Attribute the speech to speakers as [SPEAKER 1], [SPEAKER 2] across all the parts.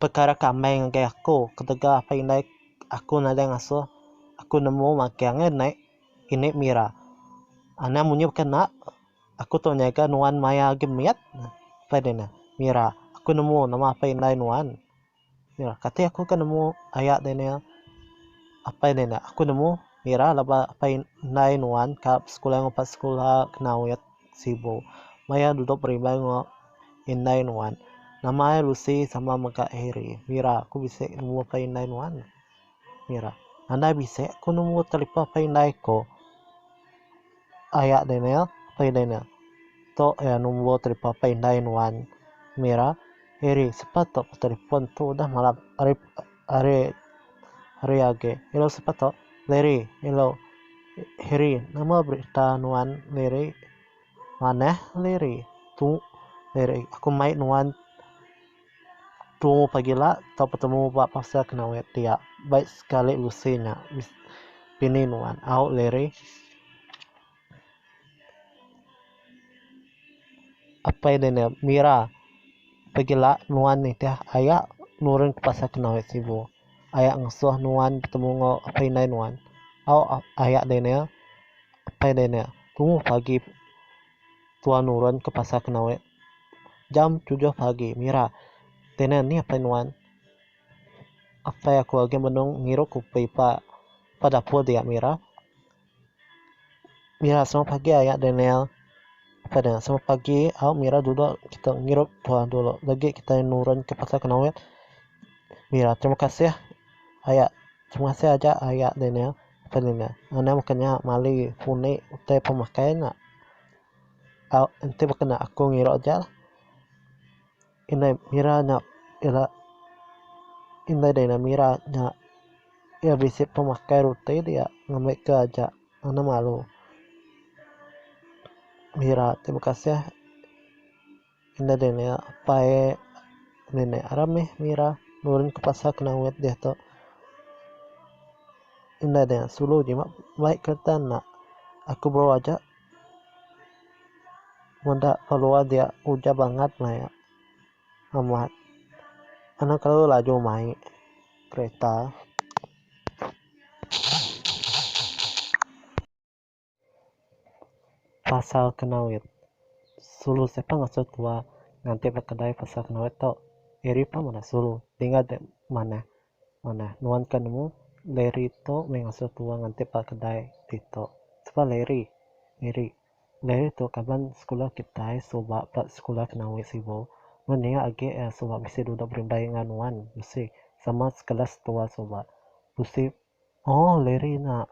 [SPEAKER 1] Pekara ke amai ngagai aku ketegal apai indai aku nadai ngasuh aku nemu magang eh nai ini mira. Anang munyi baka enda aku tau nyaga nuan maya agi mit apai deh neh mira aku nemu nama apai indai nuan. Mira kati aku ke nemu aya deh neh apai deh neh aku nemu mira laba apai indai nuan ka besekula ngupas sekula kena awit. Sibu. Maya duduk berimbai enggau indai nuan. Nama ai Lucy sama mega Harry. Mira, aku bisi number pay indai nuan. Mira. Nadai bisi aku number telipon pay indai ko. Aya Daniel, pay Daniel. Tu ya number telipon pay indai nuan. Mira. Harry, sapa tu telipon tu udah malap. Ari hari agi elu sepatu Liri elu Hiri nama berita nuan Liri manah Liri tu Liri aku mai nuan tu pagila tau betemu ba pasar kenawai dia baik sekali usi nya bini nuan au Liri. Apai ne nya mira pegila nuan nitih aya nurun ke pasar kenang aya sibu aya ngesuh nuan betemu enggau apai indai nuan au aya deh nya apai deh nya tumu pagi tuan nurun ke pasar kenang aya jam tujuh pagi mira deh nya nih apai nuan apai aku agi menung ngirup kupi pa dapur dia mira. Mira semua pagi aya Daniel apai deh semua pagi au Mira dudok kitak ngirup tuah dulu lagi kitai nurun ka pasar Kenoit Mira terima kasih aya terima kasih aja aya Daniel apai Daniel anang baka nya mali puni utai pemakai nya au enti baka nya aku ngirup aja. Indai mira nya ira indai dei mira nya ira bisi pemakai reti dia ngambi ke aja ngena malu mira ti bekasih indai dei nya apai nenek ra mih mira nurun ke pasar kena wet deh tu indai dei sulu ji bai kereta enda aku bau aja. Meda peluah dia ujar bangat maya amat anu kelalu laju mai kereta. Pasal Kenawit. Sulu sepa ngasuh tua nganti ba kedai pasal Kenawit tu. Eri pa meda sulu tinggal dep manah Manah nuan ka nemu Larry tu meh ngasuh tua ngantip ba kedai ti tu. Sapa Larry? Miri. Larry tu kaban sekula kitai suba ba Sekula Kenawi Sibu. Nuan nya agi iya suba bisi duduk berimbai enggau nuan bisi sama sekelas tua suba. Bisi Oh Larry nya.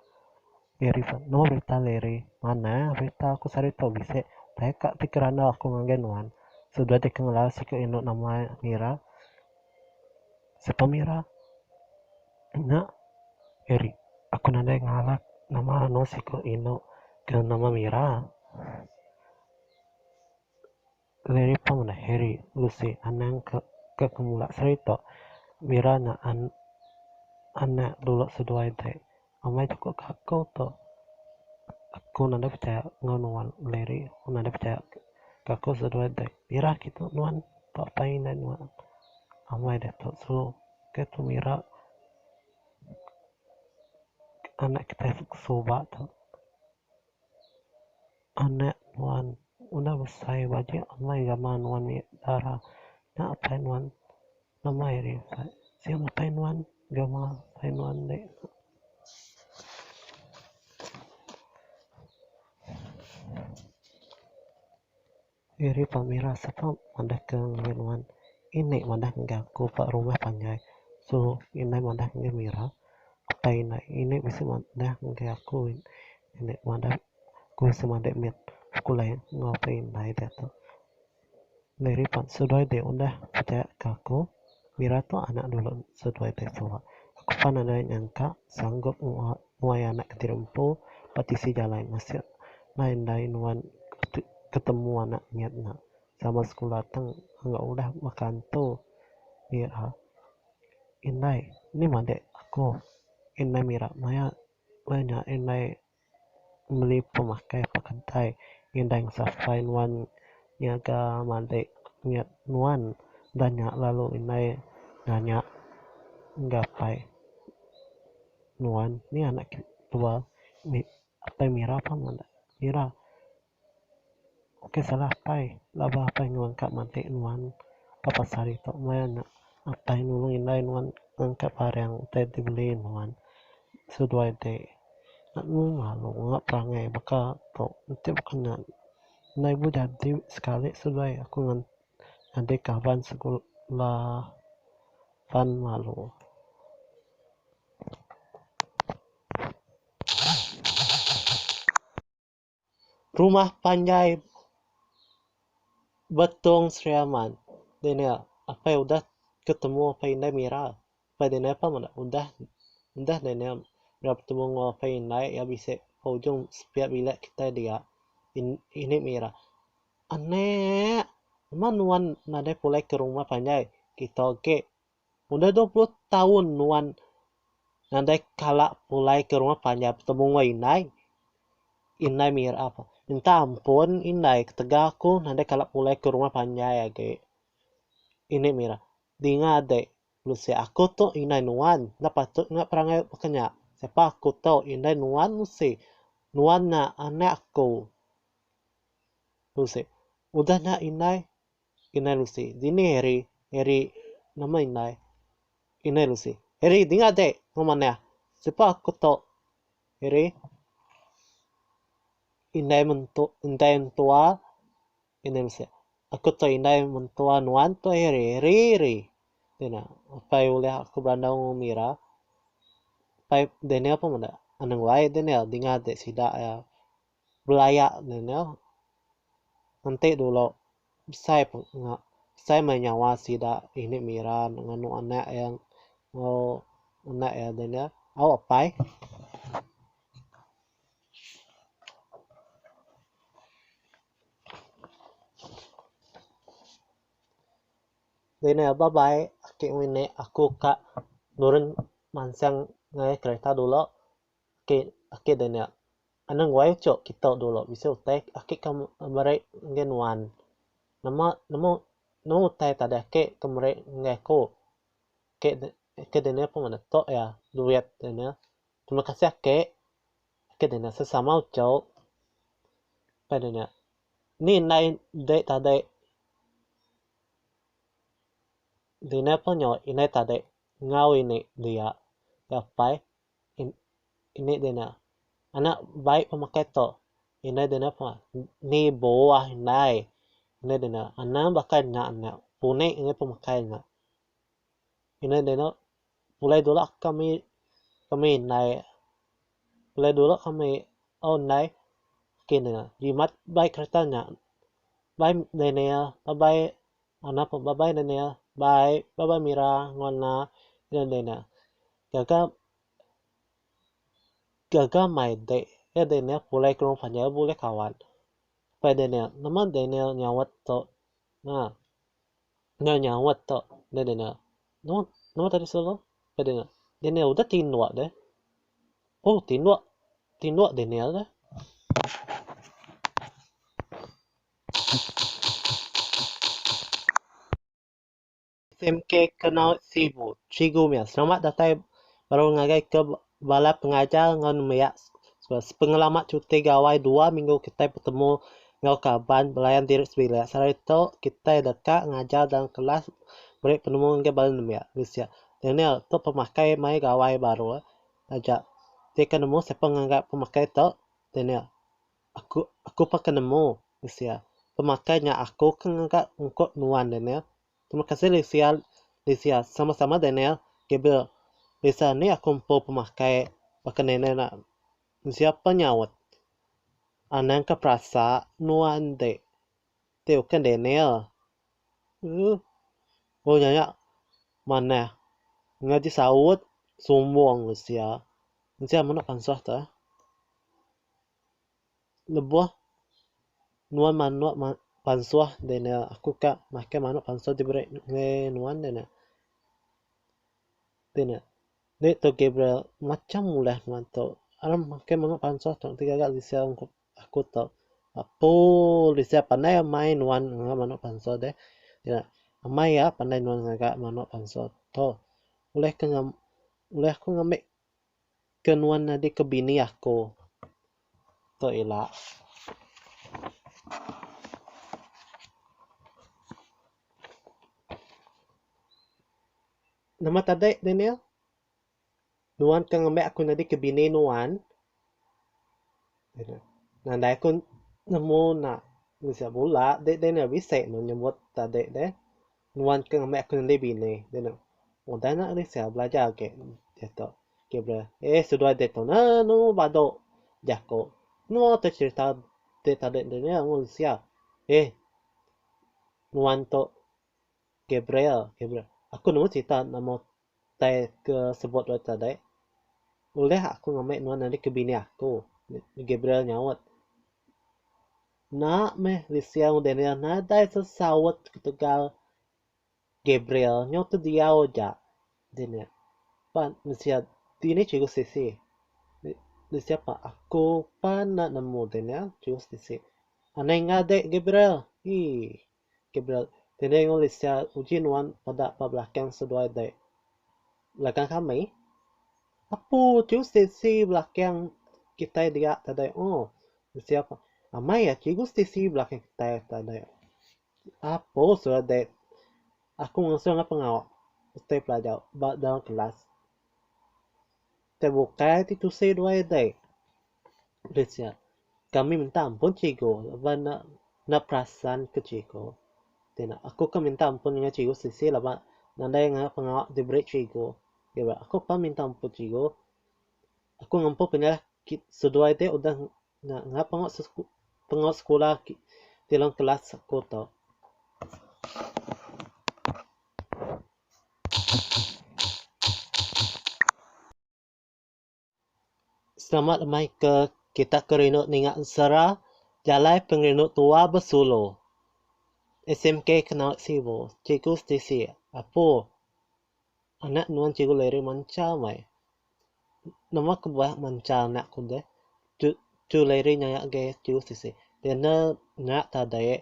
[SPEAKER 1] Larry pah. Nama berita Larry? Manah berita aku sehari tu bisi. Taja ka ti ke randau aku ngagai nuan. Sudah deh ke ngelar siku indu nama iya Mira. Siapa Mira? Nya. Larry. Aku nadai ngalak nama anu siku indu ke nama Mira. Larry pun meda Harry Lucy anang ke ke kemula seri tu bira nya an anak dulu seduai deh amai chuku ke aku tu aku enda deh pechaya enggau nuan Larry enda deh pechaya ke aku seduai deh bira agi tu nuan tu apai indai nuan amai deh tu sulu ke tu bira anak kitai suba tu. Anak nuan udah besai baji amai gama nuan mih dara nya apai nuan amai ri sai sien apai nuan gama apai nuan enda nya. Iri pa mira sapa madah ke ngagai nuan. Ini madah ngagai aku pa rumah panjai. Sulu indai madah ngagai mira. Apai indai ini bisi madah ngagai aku ini madah aku semadi mit sekula enggau apai indai diatu. Iri pa seduai ti udah pechaya ke aku mira tu anak dulu seduai ti suwa. Aku pan nadai nyangka sanggup nguat. Nuai anak kentira empu ba tisi jalai masuk nai endai nuan ketemu anak ngiat nya sama sekula tang enggau udah baka antu ira indai nih madik aku indai mira maya maya nya indai meli pemakai pak kedai indai ngesafai nuan nyaga madik ngiat nuan dah nya lalu indai nanya gapai. Nuan ni anak ke tua mih apai mira pun enda mira ok salah apai labah apai ngelengka matik nuan ba pasar ito maya nya apai nulung indai nuan ngelengka barang utai ti beli nuan seduai di lalu lalu ngena perangai baka to enti baka nya enda ibuh jadi sekali seduai aku ngan ngagai kaban sekula pan malu. Rumah panjai Betong Sri Aman. Deh nya apai udah ke temu apai indai Mira. Apai deh nya pun udah udah deh nya ira betemu enggau apai indai iya bisi ke ujung sepiak bilik kitai dia. Ini Mira. Aneek, nama nuan nadai pulai ke rumah panjai kita agi? Udah dua puluh taun nuan nadai kala pulai ke rumah panjai betemu enggau indai. Indai mira pa, minta ampun indai ketegal aku nadai kala pulai ke rumah panjai agi. Inde mira, dinga dek, bisi aku tu indai nuan, enda patut enggau perangai baka nya. Siapa aku tu indai nuan bisi. Nuan nya aneek aku. Lucy. Udah nya indai? Indai Lucy. Dini Harry? Harry. Nama indai? Indai Lucy. Harry, dinga dek! Enggau manah. Sipa aku tu? Harry. Indai mentu, indai mentua. Indai Lucy. Aku tu indai mentua nuan tu Harry. Harry, Harry. Dina. Apai ulih aku berandau enggau umi ira. Apai Daniel pun meda. Anang wai Daniel, dinga dek sida iya. Belaya ne nya enti dulu besai peng besai meh nyawa sida ini mira ne nganu anak iya enggau anak iya deh nya au apai. Deh nya ba bai ake ngene aku ka nurun mansang ngai kereta dulu ake ake deh nya Anang wai ucuk kitok dulu bisi utai aki ke meri enggai nuan. Nama nama nama utai tadai aki ke meri enggai aku. Aki aki dini pun ngena tok iya duit dini. Terima kasih aki. Aki dini sesama ucuk. Pai dini ni indai dek tadek dini pun nyau indai tadek enggau ini dia. Iya pai. Ini dina anak bai pemakai tu ina dina ni buah indai ina dina anak baka nya nya punik angai pemakai nya ina dina pulai dulu kami kami indai pulai dulu kami tau indai kini jimat bai kereta nya bai dini abai Ana pun babai Daniel, bai, babai Mira enggau ena iya Daniel. Gaga gaga maidek iya Daniel pulai ke rumah iya bulih kawan. Pai Daniel, nama Daniel nyaut tu? Nya, nya nyaut tu deh Daniel. Nama nama tadi selalu? Pai Daniel. Daniel udah tinduk deh. Oh tinduk, tinduk Daniel deh. SMK Kenau Sibu. Cikgu meh selamat datai baru ngagai ke bala pengajar enggau nembiak sepengelama cuti gawai dua minggu kitai betemu enggau kaban belayan diri sebilik. Sehari tu kitai deka ngajar dalam kelas meri penemu ngagai bala nembiak. Daniel, tu pemakai mai gawai baru aja. Ti ke nemu sapa ngagai pemakai tu? Daniel. Aku aku peka nemu Lucia. Pemakai nya aku ke ngaga ungkup nuan Daniel. Terima kasih Lucia Lucia sama sama Daniel Gabriel Lucia nih aku empu pemakai baka Daniel nya Lucia pa nyaut anang ka perasa nuan ti ti ukai Daniel uh oh nya nya manah ngaji saut sumbung Lucia Lucia mene pansah tu eh. Lebuh nuan manuk pansuh deh ne aku ka makai manuk pansuh ti beri ngagai nuan deh ne. Ti ne enda tu Gabriel macam ulah nuan tu aram makai manuk pansuh tu ti gaga bisi aku tu apu bisi panai amai nuan ngagai manuk pansuh deh. Amai a panai nuan ngagai manuk pansuh tu. Ulih ke ulih ku ngambi. ke nuan nyadi ke bini aku. Tu ila. Nama tadi Daniel? Nuan ke ngambi aku nyadi ke bini nuan? Nadai aku nemu enda mih sia bula deh Daniel. Bisi meh nyebut tadi deh. nuan ke ngembai aku neli bini dia tok udah nak risau belajar agi dia tok eh sudah dia tok anu badu jaku nuan tok cerita tok tadi tu nya mun sia eh nuan tok Gabriel aku nemu cerita nama Utai ke sebut dulu tadi, ulih aku ngambi nuan nyadi ke bini aku? Gabriel nyaut. Enda meh, Lisia enggau Daniel nadai sesaut ketegal Gabriel. Nyau tu diau aja Daniel. Pan Lisia, Dini cheriku siti. Lisia pan, Aku pan enda nemu Daniel, cheriku siti. Anai enggau dek Gabriel. Hii. Gabriel, Dini ngulih sia uji nuan peda ba belakang seduai dek? Belakang kami? Apu ti usti si belakang kitai dia tadi o? Sia ko, Amai ya cikgu usti si belakang kitai tadi. Apu sura dek? Aku ngasung enggau pengawa utai pelajar ba dalam kelas. Te bukai ti tusi duai dek. Ulih sia, kami minta ampun cikgu laban enda enda perasan ke cikgu. Ti ena aku ke minta ampun nengah cikgu sisi laban nadai ngena pengawa diberi cikgu. Ira aku pan minta ampun cikgu. Aku ngempu penyalah ki seduai ti udah nya ngena pengawa se pengawa sekula aki ti dalam kelas aku tu. Selamat amai ke kita ke rindu ninga ensera jalai pengerindu tua besulu. SMK kena sibu cikgu setisi apu anak nuan cikgu Larry manca amai. Nama ke bak manca anak ku deh cu Larry nyaya agei cikgu setisi nyaya tadai.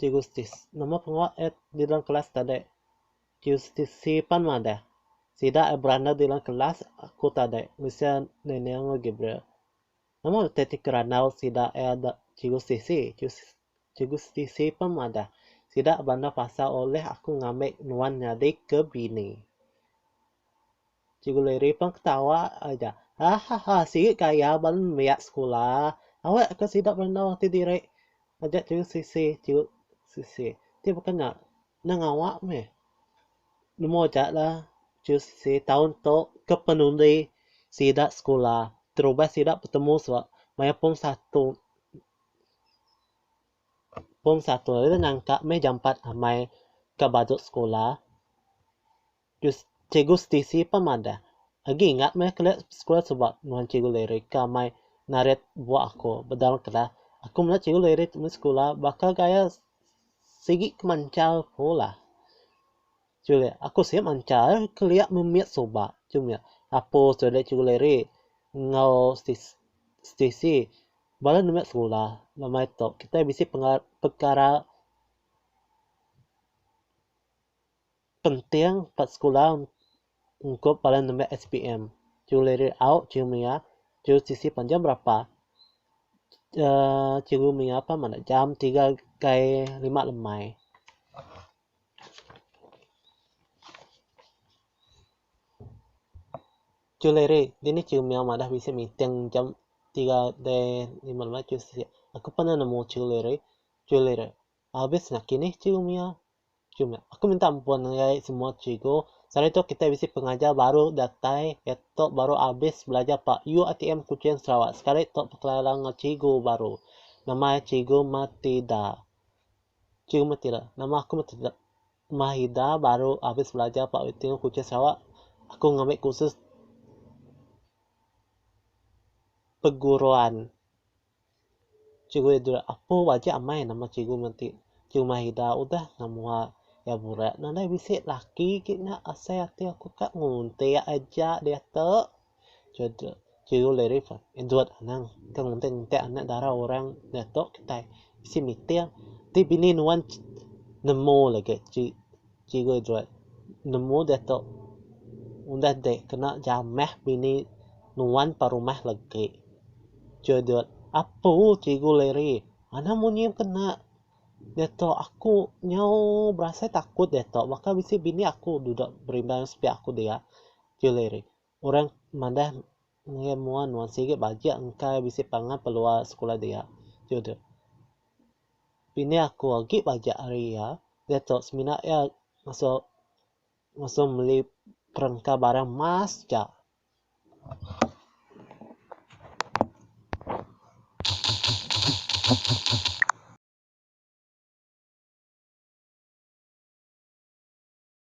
[SPEAKER 1] Cikgu Stis, Nama pengawa eh di dalam kelas tadi? Cikgu Stis, Sipan madah. Sida eh berandau di dalam kelas aku tadi bisi Nenek enggau Gabriel. Nama reti ti kerandau sida eh ada Cikgu Stis? Cikgu Stis, Sipan madah. Sida berandau pasal ulih aku ngambi nuan nyadi ke bini. Cikgu Liri pun ketawa aja. Hahaha sigi ka iya ban nembiak sekula. Awak ka sida berenung ati diri ngajar cikgu Sisi, cikgu Sisi. Ti baka nya nang awak meh. Nemu aja lah cikgu Sisi taun tu ke penundi sida sekula terubah sida betemu suba maya pung satu pung satu ira nyangka meh jampat amai ka baju sekula. Dust Cikgu Stacey pah madah, Agi ingat meh kelia sekula suba nuan Cikgu Larry ka mai narit buah aku bedal kelas. Aku melihat Cikgu Larry tu meh sekula baka gaya sigi ke manchal ku lah. Chuli, Aku sik manchal kelia memit suba. Chuli, Apus tu dah Cikgu Larry enggau Stacey bala ne meh sekula. Ba meh tu kitai bisi pekara Penting ba sekula ungkup bala nembiak SPM chul lirik au, chul mia, chul sisi panjang berapa, uhh cikgu mia pan madah jam tiga kai lima lemai. Chul lirik dini cikgu mia madah bisi meeting jam tiga dei lima lemai chul sisi. Aku pernah nemu chul lirik, chul lirik abis nakini cikgu mia. Chum nya. Aku minta ampun ngagai semua cikgu. Sehari tu kitai bisi pengajar baru datai iya tu baru abis belajar ba UITM Kuching Sarawak. Sekali tu bekelara enggau cikgu baru. Nama iya cikgu Mathida. Cikgu Mathida. Nama aku Mathida. Mathida baru abis belajar ba UITM Kuching Sarawak. Aku ngambi kursus peguruan. Cikgu Edward, Apu aja amai nama cikgu menti. Cikgu Mahida udah ngau mua iya burak ne alai bisi laki agi nya asai ati aku ka ngunting aja diatu. Cikgu Edward, Cikgu Larry pun, Edward anang ka ngunting ngunting anak dara orang diatu kitai bisi meeting ti bini nuan nemu lagi. Cikgu Joy nemu diatu udah dek kena jamah bini nuan pa rumah legi. Joy dut, Apu Cikgu Larry, anak munyi kena diatu aku nyau berasai takut diatu baka bisi bini aku dudok berimbang sepiak aku dia. Cikgu Larry, Orang madah ngagai mua nuan sigi bajik engka iya bisi pangan peluang sekula dia. Jude. Bini aku agi bajik ari iya diatu semina iya ngasu ngasu meli perengka barang mas ja.